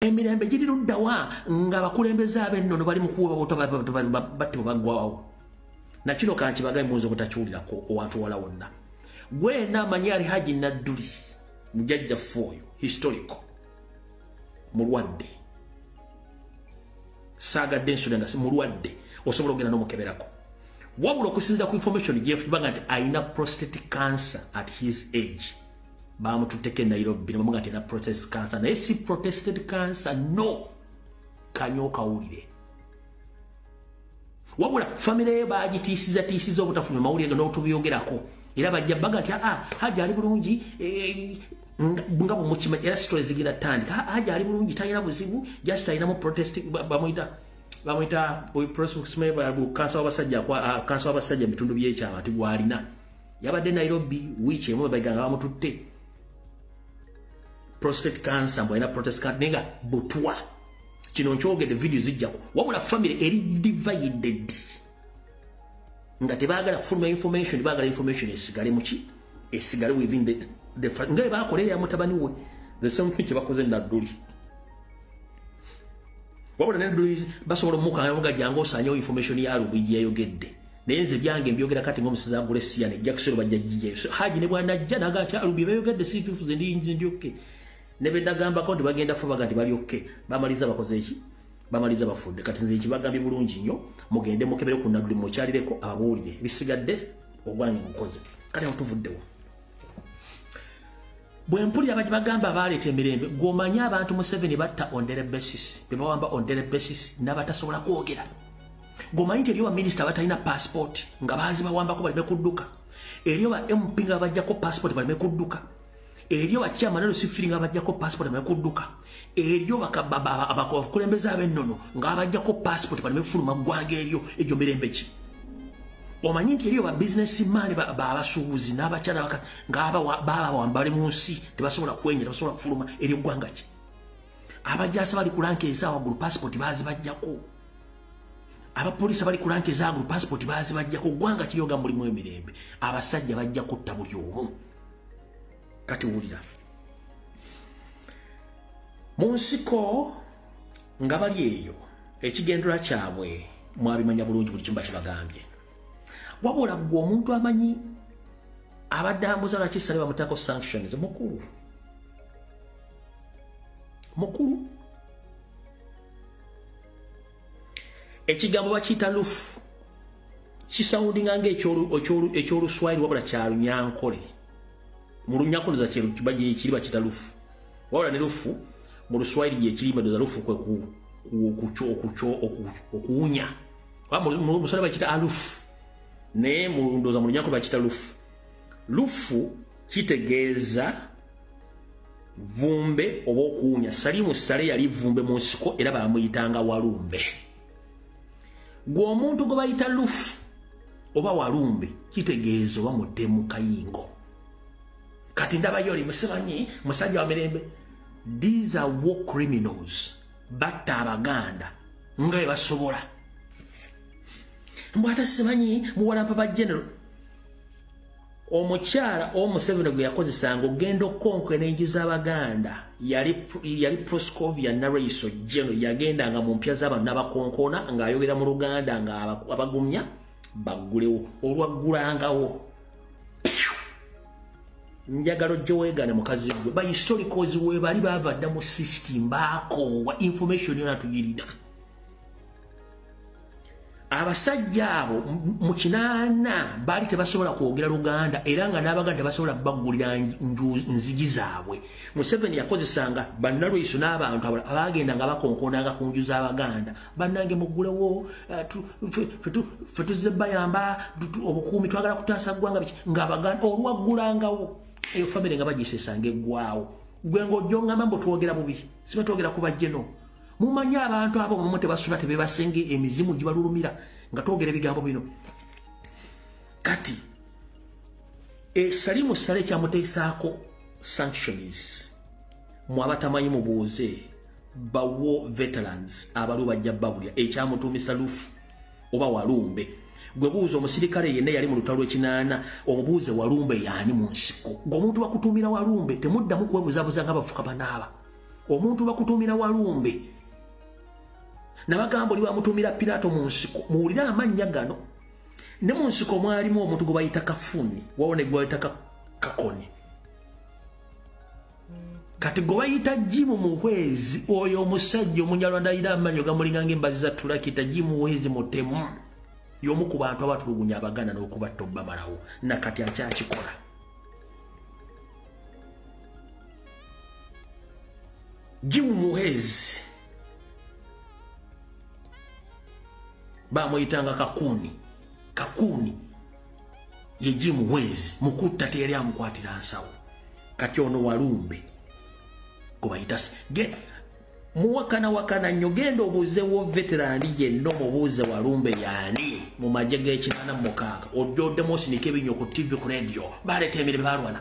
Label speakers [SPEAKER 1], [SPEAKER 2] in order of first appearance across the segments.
[SPEAKER 1] emirembe giri luddawa nga abakulembeze abennono bali mukuweba butbatte bagwawo nakino kankibaga muyinza obutakiwulirako owantu wala wonna gwena amanyi ali haji nadduli mujajjaffe oyo historico mulwadde saagadde ensula nga simulwadde osobola okugenda nomukeberako wabula okusinzira ku information gyefubanga nti alina prostatic cancer at his age bamututteko e nairobi nebamuga nti era process cancer naye si protested cancer no kanya okawulire wabula famire ye bagitiisizatiisiza obutafuna mawulire nga n'otubyogerako era bajja baga nti aa ah, haja ali bulungi eh, nga bwemukima era sitole zigenda tandika haja ali bulungi talina buzibu just alinamu protest bamuyita bamuyita kansa wabasajja ah, kansa wabasajja mu bitundu byekyama nti gwalina yabadde nairobi wiiki emu webaiga nga bamututte prostate cancer mbwalina protest card naye nga butwa kino nkyogedde vidiyo zijjako wabula famire eri divided nga tebagala kufuluma information bagala information esigale muki esigale within the, the nga ebakola eya mutabani we the same thing kyebakoze nadduli wabula nadduli basobola omukanga muga jangu osanyewo information ya lubiji yayogedde naye nze byange mbyogera kati ngomuseza agula esiya ne jakisero bajja jijayo so haji ne bwana ajja naga ati alubi ah, beyogedde si tufu ze ndi ndi ndi okay ne benda gamba konti bagenda fo bagati bali okay bamaliza bakoze eki bamaliza bafudde kati nze ekibagambye bulungi nnyo mugende mukebere ku nabuli mukyalireko ababuulire ebisigadde ogwange mukoze kati atuvuddewo bwe mpulira baki bagamba abaaleeta emirembe gwomanyi abantu museveni batta ondere basis bebawamba ondere basis n'abatasobola kwogera gomanyi nti eriyo baminisita abatalina paasipooti nga baazibawambako baleme kudduka eriyo ba mp nga bajjako paasipooti baleme kudduka eriyo bakyama nalo sifiri nga bajjako paasipooti baleme kudduka eriyo abakulembeze ab'ennono nga bajjako paasipooti baleme kufuluma ggwanga eryo egyo mirembe ki omanyi nti eriyo babizinesi maani babasuubuzi n'abakyala baka ngababawambali mu nsi tebasobola kwenya tebasobola kufuluma eri eggwanga ki abajasa bali kulanka ezaawaggulu paasipooti baazibajjako abapoliisi abali ku lanka ezagulu pasipooti bazibajja ku ggwanga kiyoga mulimu emirembe abasajja bajja kutta buli omu kati wulira mu nsiko nga bali eyo ekigendera kyabwe mwabimanya bulungi buli kimu bakibagambye wabula gwe omuntu amanyi abadde ambuza lwaki sale bamutako sanctions mukulu mukulu ekigambo bakiyita lufu kisawundinga nga ekyoluswayiri wabula kyalunyankole mu lunyankoloza kiri bakiyita lufu wabula ne lufu mu luswayiri gyekirimba doza lufu kwe okuwunya musala bakiyita alufu naye mulundoza mu lunyankole bakiyita lufu lufu kitegeeza vumbe oba okuwunya salimu sale yali vumbe mu nsiko era bamuyitanga walumbe gwe omuntu gwe bayita lufu oba walumbe kitegeeza oba mutemu kayingo kati ndabayo oli musibanyi musajja wa mirembe these are war criminals batta abaganda nga bwe basobola mbwata simanyi muwalampa ba general omukyala owo museveni gwe yakozesanga okugenda okukonka enenju z'abaganda yali proscovia naraiso jeno yagendanga mu mpya z'abantu n'abakonkona ng'ayogera mu luganda ng'abagumya baggulewo olwaggulangawo njagala ojja weegane mukazi gwe ba historicals weebali baava dda mu system baakoowa information yona tugirina abasajja abo mu kinaana baali tebasobola kwogera luganda era nga n'abaganda tebasobola baggulira nzigi zaabwe museveni yakozesanga bannalweyiso n'abantu abaagenda nga bakonkonanga ku nju z'abaganda bannange muggulewo eh, fe tuzze bayamba obukuumi twagala kutaasa ggwanga biki ngaabaganda olwaggulangawo eyo famire nga bagisesanga eggwawo gwe ng'ojongamba mbu twogera bubi siba twogera ku bajjeno mumanyi abantu abo mumu tebasula tebebasinga emizimu gibalulumira nga twogera ebigambo bino kati esalimu sale kyamuteesaako sanctions mwabatamanyi mubuuze bawo veterans abaliwo bajja babulya ekyamutuumisa lufu oba walumbe gwe buuza omusirikale yenna yali mu lutalo lwekinaana omubuuze walumbe yaani mu nsiko gweomuntu bakutuumira walumbe temuddamu kwebuzabuza nga bafuka banaaba omuntu bakutumira walumbe nabagamba oli bamutumira pirato mu nsiko muwulire amannya gano ne mu nsiko mwalimu omuntu gwe bayita kafuni wawo ne gwebayita kakoni kati gwe bayita jimu muhwezi oyo omusajja omunyarwanda ayira amanyo gamulingange embazi za tulakita jimu muhwezi mutemu yomu ku bantu abatulugunya abaganda n'okubatta obamalawo nakati akyakikola jimu muhezi bamuyitanga kakuuni kakuuni ye jimu muhezi mukutta teyali amukwatira nsawo kati ono walumbe gwebayita muwakana wakana nnyo genda obuuze wo veterani yenna omubuuze walumbe yaani mu magye g'ekinana mukaaga ojja oddemu osinika ebinyo ku ttivi ku rediyo baleeta emirimu balwana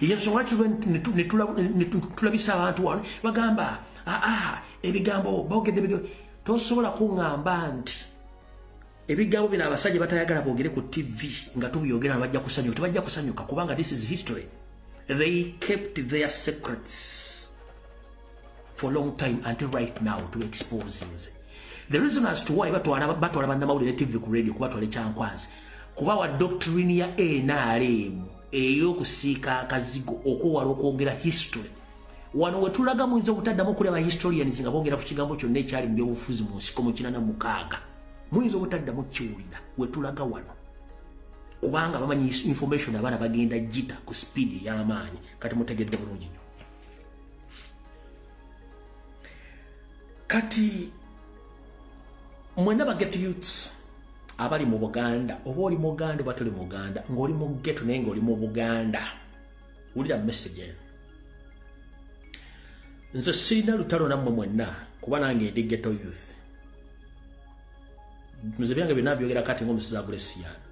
[SPEAKER 1] yensonga lwaki netulabisa abantu wano bagamba aa ebigambo bogedde bigambo tosobola kuŋamba nti ebigambo bino abasajja batayagala bogere ku tv nga tubyogera na bajja kusanyuka tebajja kusanyuka kubanga this is history they kept their secrets for long time until right now to expose nze the reason as to why batwala batwala banda mawulire tv ku radio kuba twale kyankwanzi kuba wa doctrine ya nrm eyo kusiika akazigo okuwala okwogera history wano wetulaga muyinza obutaddamu okulaba historians nga bogera ku kigambo kyonna ekyali mu byobufuzi mu nsiko mu kinana mukaaga muyinza obutaddamu kiwulira wetulaga wano kubanga bamanyi information abaana bagenda jita ku speed ey'amaanyi kati mutegedde bulungi nyo kati mwena baget youths abali mu buganda oba oli muganda oba toli muganda ngaoli mu geto naye ngaoli mu buganda wulira message nze sirina lutalo nammwe mwenna kuba nange ndi geto youth nze byange byonna byogera kati ngaomusizi agula esiyaana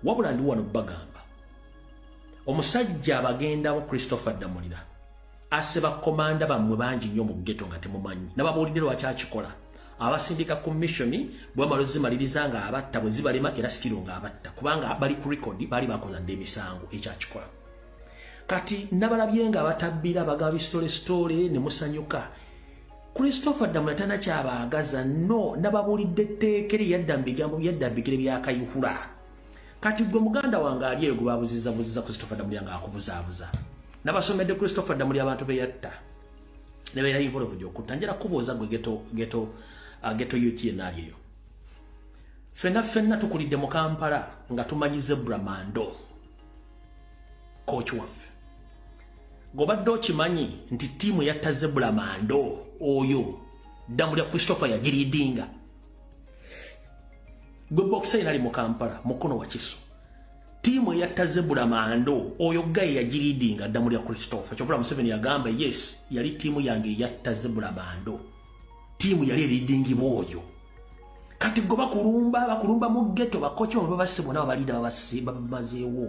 [SPEAKER 1] wabula ndi wano bagamba omusajja abagendamu christopher ddamulira asse bakomanda bammwe bangi nnyo mu geto nga temumanyi nababuulidde lwaki akikola abasindika ku missioni bwamala ozimaliriza nga abatta bwe zibalema era sitiro nga abatta kubanga bali ku record baali bakola dda emisango ekyakikola kati nabalabye nga abatabbira bagaba bisitolesitole ne musanyuka christopher ddamula tana kyabaagaza no nababuulidde etteeka eri yadda mu bigambo byadda mu bigere byakayihura kati gwe muganda wange ali eyo gwebabuziza buziza christopher damulya nga akubuzabuza nabasomedde christopher damulya abantu beyatta nebeera involved okutta njera kubuuza gwe geto geto uh, geto ut enaali eyo fena fena tukulidde mu kampala nga tumanyi zebra mando coach waffe gobadde okimanyi nti tiimu yatta zebra mando oyo damulya christopher yagiridinga gwe bokisa yena ali mu kampala mukono wa kiso tiimu eyatta zebula mando oyo gaye yagiriidinga dda mu lya christopher kyokula museveni yagamba yes yali tiimu yange eyatta zebula mando tiimu yali eriidingibwa oyo kati gwe bakulumba bakulumba mu geto bakoki oba babasibona babalida babamazeewo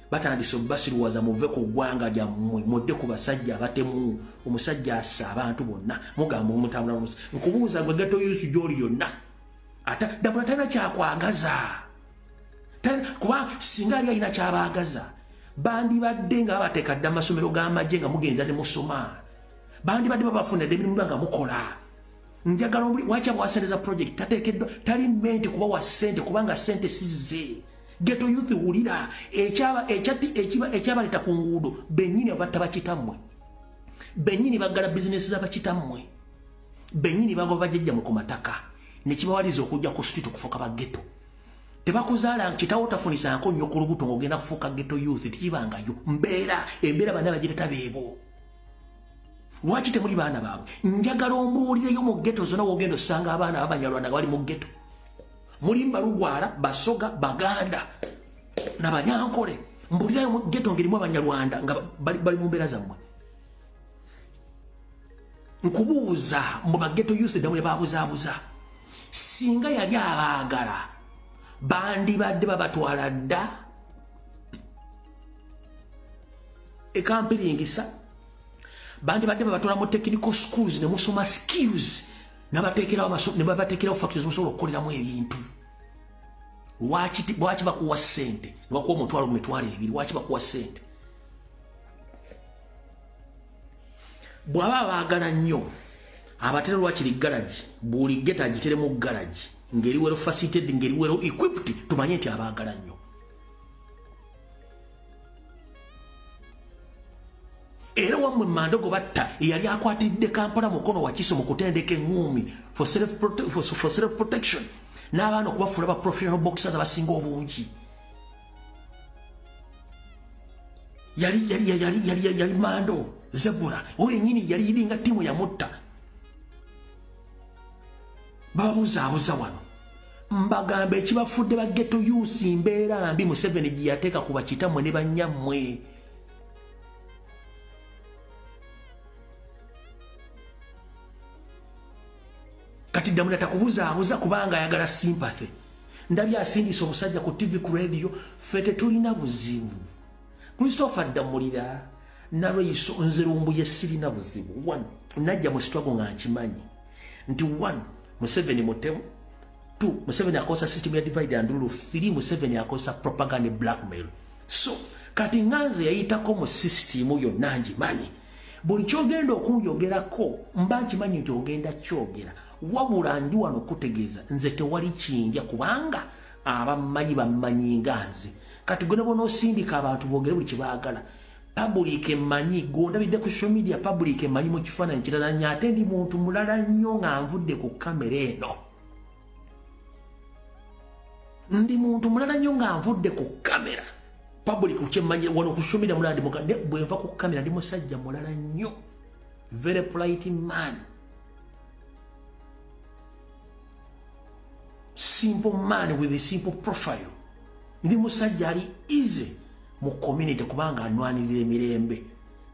[SPEAKER 1] batandise obasiruwaza muve ku ggwanga lyammwe mudde ku basajja abatemu omusajja assa abantu bonna mugamba omutambula nomusi nkubuuza gwe geto yusu gyoli yonna ate dabula talina kyakwagaza kuba singa ali alina kyabaagaza bandibadde nga babateeka dda amasomero g'amagye nga mugenda ne musoma bandibadde babafuna dda emirimu nga mukola njagala waki abwasereza project tateekeddwa tali menti kuba wa ssente kubanga ssente sizze geto yuthi wulira ekyabaleta ku nguudo benyini abatta bakitammwe benyini baggala bizinesi zabakitammwe benyini bagwa bajajja mu ku mataka nekibawaliza okujja ku street okufuuka ba geto tebakuzaala kitawo tafunisanko nnyo ku lubuto ngaogenda kufuuka geto youth tikibangayo mbeera embeera bana bagireta beebo lwaki temuli baana baabwe njagala ombuulireyo mu geto zona wogenda osanga abaana babanyalwana nga bali mu geto mulimba lugwala basoga baganda nabanyankole mbulirayo mugeto ngerimu abanyarwanda nga bali mumbeera zammwe nkubuuza mu bageto youth damwe babuzabuza singa yali abaagala bandibadde babatwala dda ekampiringisa bandibadde babatwala mu technical schools nemusoma skills nebabatekerawo factory zimusobola okukoleramu ebintu lwaki bakuwa sente nebakuwa omutwalo mu mitwalo ebiri lwaki bakuwa sente bwaba abaagala nnyo abatera lwakiri garagi buli geta agiteremu garagi ngeri wero facilitated ngeri wero equipped tumanye nti abaagala nnyo era wamwe mandogo batta eyali akwatiridde kampala mukono wakiso mu kutendeka eŋuumi for self protection n'abaana okubafuula ba professional boxers abasinga obungi yali yali yali yali yali yali mando zebura oyo nyini yali yidinga timu ya mutta babuzaabuza wano mbagamba ekibafudde bageto yusi mbeera mbi museveni gyeyateeka ku bakitamwe ne bannyammwe kati damuna takubuzaabuza kubanga ayagala simpathy ndabye asindisa omusajja ku tv ku radio fe tetulina buzibu christopher ddamulira nalweiso nze lumbuye sirina buzibu one najja mu sitwago nga nkimanyi nti one museveni mutemu two museveni akozesa system ya divide and rule three museveni akozesa propaganda blackmail so kati nga nze yayitako mu system yonna ngimanyi buli kyogenda okunjogerako mba nkimanyi nti ogenda kyogera wabula ndi wano okutegeeza nze tewali kinja kubanga abammanyi bammanyi nga nze kati gwena bona osindika abantu bogere buli kibagala public emanyi gondabidde ku social media public emanyi mu kifaananyi kirala nyo ate ndi muntu mulala nnyo nga nvudde ku kamera eno ndi muntu mulala nnyo nga nvudde ku kamera public kyemanyi wano ku social media mulala ndi mukadde bwenva ku kamera ndi musajja mulala nnyo very polite man simple man with a simple profile ndi musajja ali easy mu community kubanga anwanirira emirembe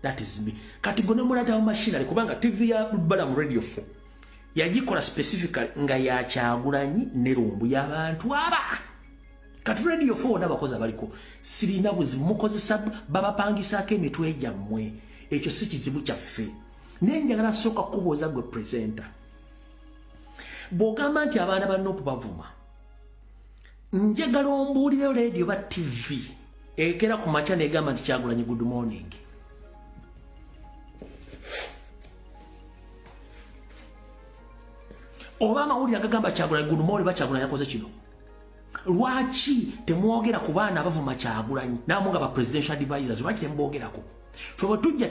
[SPEAKER 1] that is me kati gwe nomulatawo machinery kubanga tv ya balamu radio fo yagikola specifically nga yakyagulanyi nerumbu yabantu aba kati radio fo wona abakozi abaliko sirina buzibu mukozesa babapangisaako emitwe gyammwe ekyo si kizibu kyaffe naye njagala sooka kubuuza gwe presenter bw'ogamba nti abaana banna okubavuma njagala ombuulire leedi oba tivi ekera ku makya negamba nti kyagulanyi good morning oba amawulire agagamba kyagulanyi good morning bakyagulanyi akoze kino lwaki temwogera ku baana abavuma kyagulanyi namu nga ba presidential advisors lwaki tembogerako fe bwetujja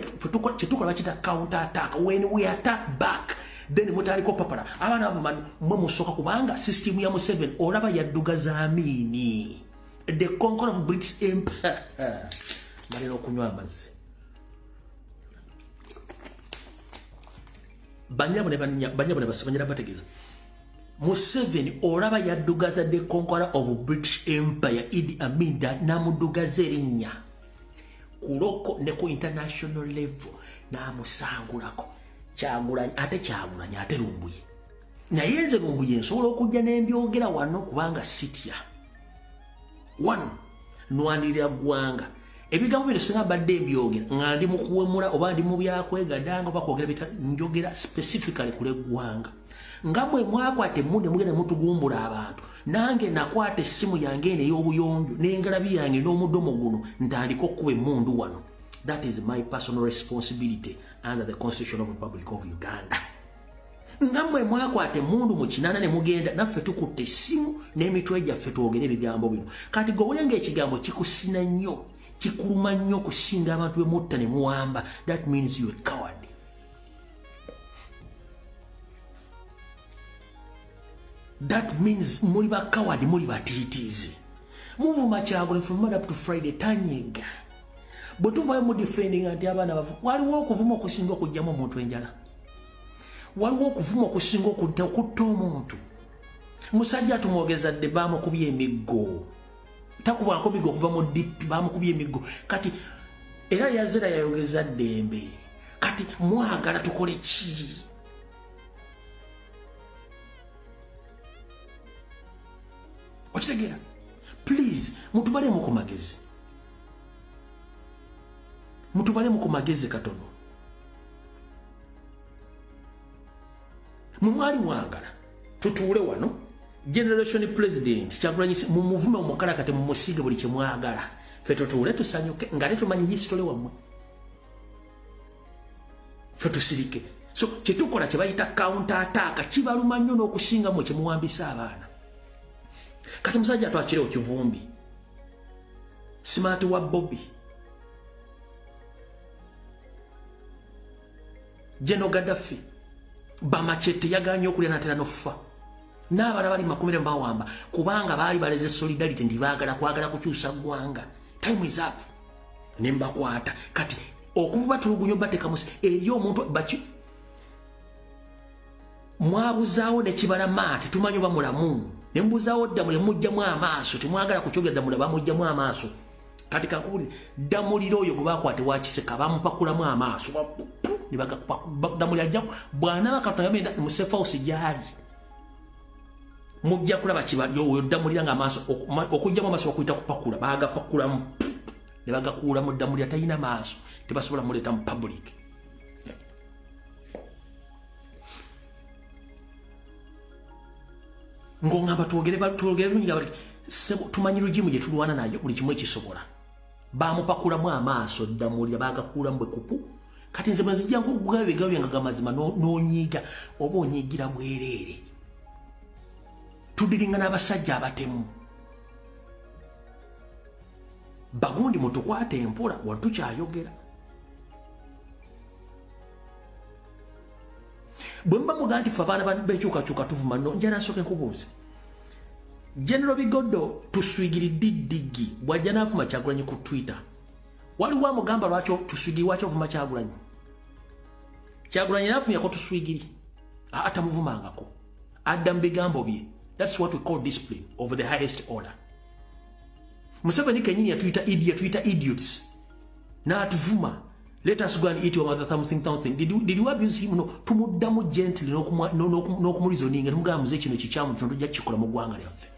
[SPEAKER 1] kyetukola bakita counter attack when we attack back then mutaliko papala abaana bavuma mwe musooka kubanga system ya museven olaba yadduga zamiini the conquer of british empire malina okunywa amazzi banyabo ne banyabo ne basabanyira bategeza museveni olaba yaddugaza the conqueror of british empire idi aminda namudugaza erinnya kuloko ne ku international level namusangulako kyagulanyi ate kyagulanyi ate lumbuye naye nze lumbuye nsobola okujja nembyogera wano kubanga sitya one nwanirira ggwanga ebigambo bino singa mbadde mbyogera nga ndi mukuwemula oba ndi mu byakwegadanga oba kwogera bita njogera specifically kuleggwanga nga mwe mwakwata emu ne mugenda mutugumbula abantu nange nakwata essimu yange eno ey'obuyonjo n'engalabi yange n'omudomo guno ntandika okukuba emundu wano that is my personal responsibility under the constitution of republic of uganda nga mwe mwakwata emundu mu kinana ne mugenda naffe tukutte essimu n'emitwe gyaffe twogere ebigambo bino kati gowulanga ekigambo kikusina nnyo kikuluma nnyo okusinga abantu bemutta ne muwamba that means you a coward that means muli ba coward muli ba titizi muvuma kyagula from monday up to friday tanyega bwe tuvayo mu defending anti abaana bavu waliwo okuvuma okusinga okugyamu omuntu enjala waliwo okuvuma okusinga okutta omuntu musajja tumwogeza dde baamukubya emiggo takubwako migo okuva mu dip bamukubye emiggo kati era yazira yayogeza ddembe kati mwagala tukole ki okitegera please mutubalemu ku magezi mutubalemu ku magezi katono mumwali mwagala tutuule wano generation president kyagulanyi mumuvume omukalakate mumusige buli kyemwagala fe tutuule tusanyuke nga tetumanyi history wamwe fe tusirike so kyetukola kyebayita counter attack kibaluma nnyo n'okusinga mwe kyemuwambisa abaana kati musajja twakire okivumbi smart wa bobby General Gaddafi bamachete yaganye okulya natera nofa n'abala bali makumire mbawamba kubanga baali baleze solidarity ndi baagala kwagala kukyusa ggwanga time is up ne mbakwata kati okuba tulugunyo bateka musi eri omuntu baki mwabuzaawo ne kibala maate tumanyi oba mulamu ne mbuzaawo dda mule mujjamu amaaso temwagala kukyogera dda mule bamujjamu amaaso kati kankubuli damulira oyo gwe bakwate wakiseka bamupakulamu amaaso damulira ajja bwanaba katonda yamenda musefausi gyali mujja kulaba kibali oyo damulira nga amaaso okujjamu amaaso bakuyita kupakula bagapakulamu ne bagakuulamu damulira talina maaso tebasobola muleeta mu public ng'ongamba twogere twogere lungi nga tumanyi lugimu gye tulwana nayo buli kimu ekisobola baamupakulamu amaaso dda muwulira baagakuulamu bwe kupu kati nze mazijja nkugugayo ebigawo byange gamazima n'onyiiga oba onyiigira bwereere tudiringa n'abasajja abatemu bagundi mutukwate empola watukyayogera bwe muba mugaa nti fe abaana benkyukakyuka tuvuma no njala nsooke nkubuuze genero bigodo tuswigiridde ddigi bwajja naavuma kyagulanyi ku twitter waliwo amugamba lwaki tuswigiri waki ovuma kyagulanyi kyagulanyi navumyako tuswigiri atamuvumangako adda mu bigambo bye thats what we call discipline of the highest order museveni kenyini yatuyita idi yatuyita idiots naatuvuma Let us go and eat your mother something something. Did you, did you abuse him? No. Tumuddamu gently n'okumulizo ninga tumugamba muze kino kikyamu kino tujja kikola mu ggwanga lyaffe.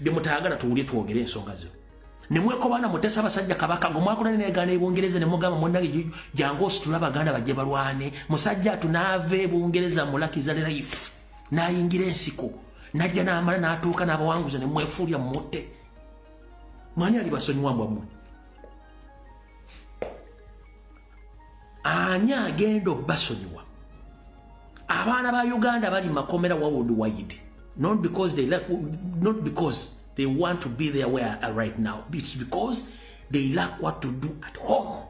[SPEAKER 1] Bye mutayagala tuwulye twogere ensonga zo. Ne mwekobaana mutesa abasajja kabaka gwe mwakola ne neegaana e Bungereza ne mugamba munnange jangu ositule abaganda bajje balwane. Musajja tunaava e Bungereza mulakiza life n'ayingira ensiko n'ajja n'amala n'atuuka n'abawanguza ne mwefuulya mutte. Mwani alibasonyiwa mbwa mmwe. ani agenda obbasonyiwa abaana ba uganda bali makomera wawold wide not because they lack, not because they want to be there where are right now it's because they lack what to do at home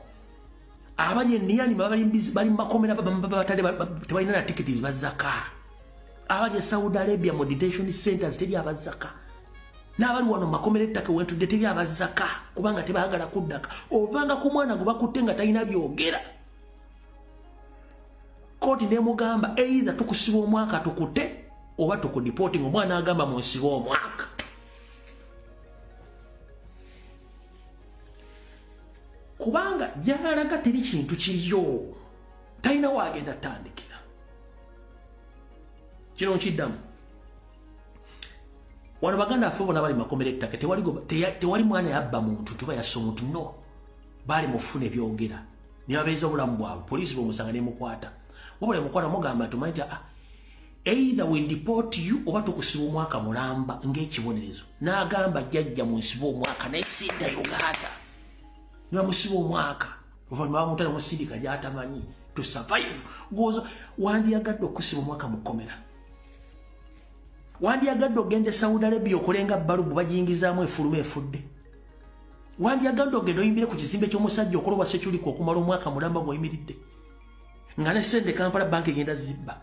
[SPEAKER 1] abali eniyani bali mu makomera babatale tebalina na tiketi zibazaka abali esaudi arabia mu detention centers teri abazaka n'abali wano makomera ettaka wentudde teri abazaka kubanga tebagala kuddaka ovanga ku mwana gwe bakutte nga talina byogera kooti nemugamba eitha tukusiba omwaka tukute oba tukudipooti nga omwana agamba munsiba omwaka kubanga gyalaga teri kintu kiriyo talina waagenda tandikira kino nkiddamu wano baganda affe bona bali makomera ettaka tewali mwana yabba muntu tuba yassa omuntu no baali mufuna ebyogera nebabeeza obulamu bwabwe poliisi bwemusanga nemukwata wabula emukwata mugamba tumanyi ti ah, either we deport you oba tukusiba omwaka mulamba ng'ekibonerezo n'agamba jajja mu nsiba omwaka naye sidda uganda nebamusiba omwaka oluvannyuma bamuta nemusindika gyatamanyi to survive gwoza wandiyagadde okusiba omwaka mu kkomera wandiyagadde ogenda e saudi arabia okolenga balubu bagiyingizaamu efuluma efudde wandiyagadde ogenda oyimbire ku kizimbe ky'omusajja okolobwa sekyuliku okumala omwaka mulamba gwoyimiridde nga ne sente kampala banka egenda zibba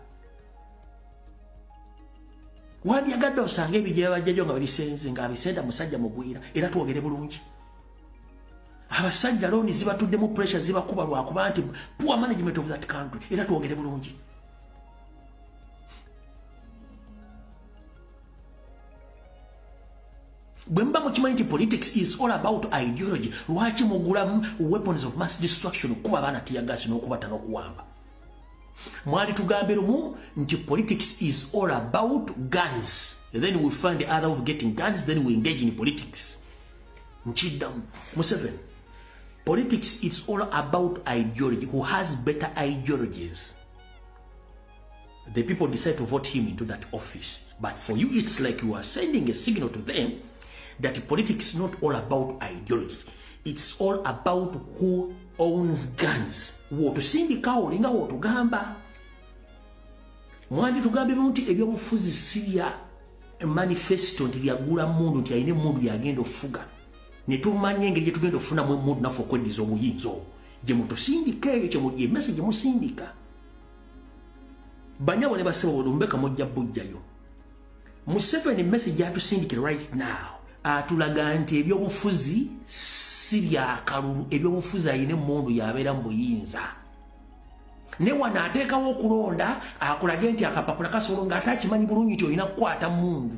[SPEAKER 1] wandyagadde osanga ebijja bajjajo nga babisenze nga abisenda musajja mugwira era twogere bulungi abasajja looni zibatuddemu pressure zibakuba lwakuba nti poor management of that country era twogere bulungi bwe muba mukimanyi nti politics is all about ideology lwaki mugula weapons of mass destruction okukuba abaana tiyagasi n'okubata n'okuwamba mwali tugambe lumu nti politics is all about guns then we find the other of getting guns then we engage in politics nkiddamu museveni politics is all about ideology who has better ideologies the people decide to vote him into that office. But for you, it's like you are sending a signal to them that politics is not all about ideology. It's all about who owns guns. Wotusindika olinga wotugamba. Mwandi tugambe munti ebyobufuzi siya manifesto nti byagula mundu nti ayine mundu yagenda ofuga. Netumanya engeri gye tugenda ofuna mu mundu nafo kweddiza obuyinza obwo. Gye mutusindika eyo kye muli emese gye musindika. banyabo ne basebo bolumbe kamojja bujjayo museveni message gyatusindikira right now atulaga nti ebyobufuzi si byakalulu ebyobufuzi alina emundu yabeera mu buyinza ne wano ateekawo okulonda akulage nti akapapula kasolo nga ate akimanyi bulungi nti olina kukwata mundu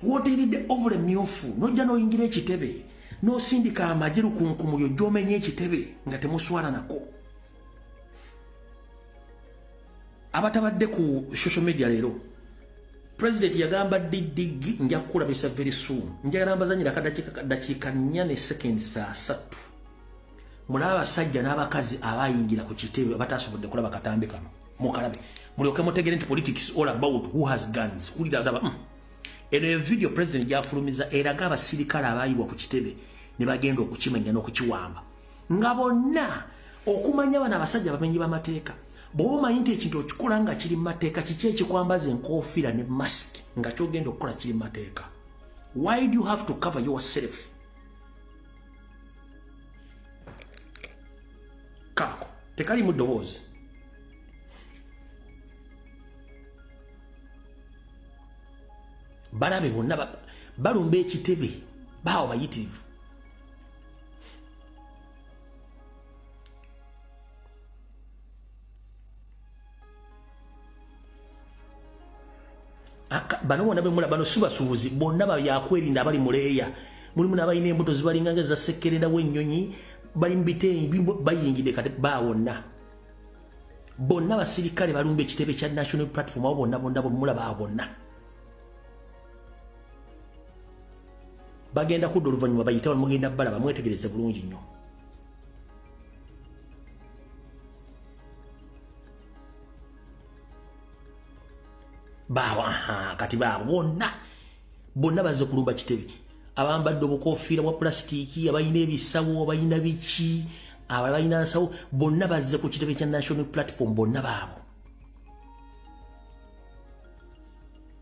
[SPEAKER 1] woteeridde ovule myufu nojja noyingira ekitebe nosindika amagye lukunkumulyo gyomenye ekitebe nga temuswalanako abatabadde ku social media leero president yagamba didigi nja kukulabisa very soon njagala mbazanyira akadakiika nnya ne second saa satu mulaba abasajja n'abakazi abayingira ku kitebe abatasobodde kulaba katambi kano mukalabe mulyoke mutegere nti politics all about who has guns wulira daba mm. eno eyo video president gyafulumiza eraga abasirikale abaayibwa ku kitebe ne bagenda okukimenya n'okukiwamba nga bonna okumanya abana abasajja bamenyi bamateeka bwoba omanyi nti ekintu okikola nga kiri mumateeka kiki ekikwambaza enkofiira ne mask nga kyogenda okukola kiri mumateeka why do you have to cover yourself kaako tekalimu ddoboozi balabe bonna balumba ekitebe baawo bayitirivu bano bona bemula bano subasubuzi bonna bayakwerinda abali muleeya mulimu nabalina embuto zibalinganga ezasekkererawo ennyonyi bali mubiteeyi bayingidde kati bawonna bonna basirikale balumba ekitebe kya national platform awo bonna bonna bwemulaba bonna bagenda kudda oluvannyuma bayite wano mugenda balaba mwetegereze bulungi nnyo baawa kati baabo bonna bonna bazze kulumba kitebe abambadde obukofiira bwa pulasitiiki abalina ebisawo abalina biki abo abalina nsawo bonna bazze ku kitebe kya national platform bonna baabo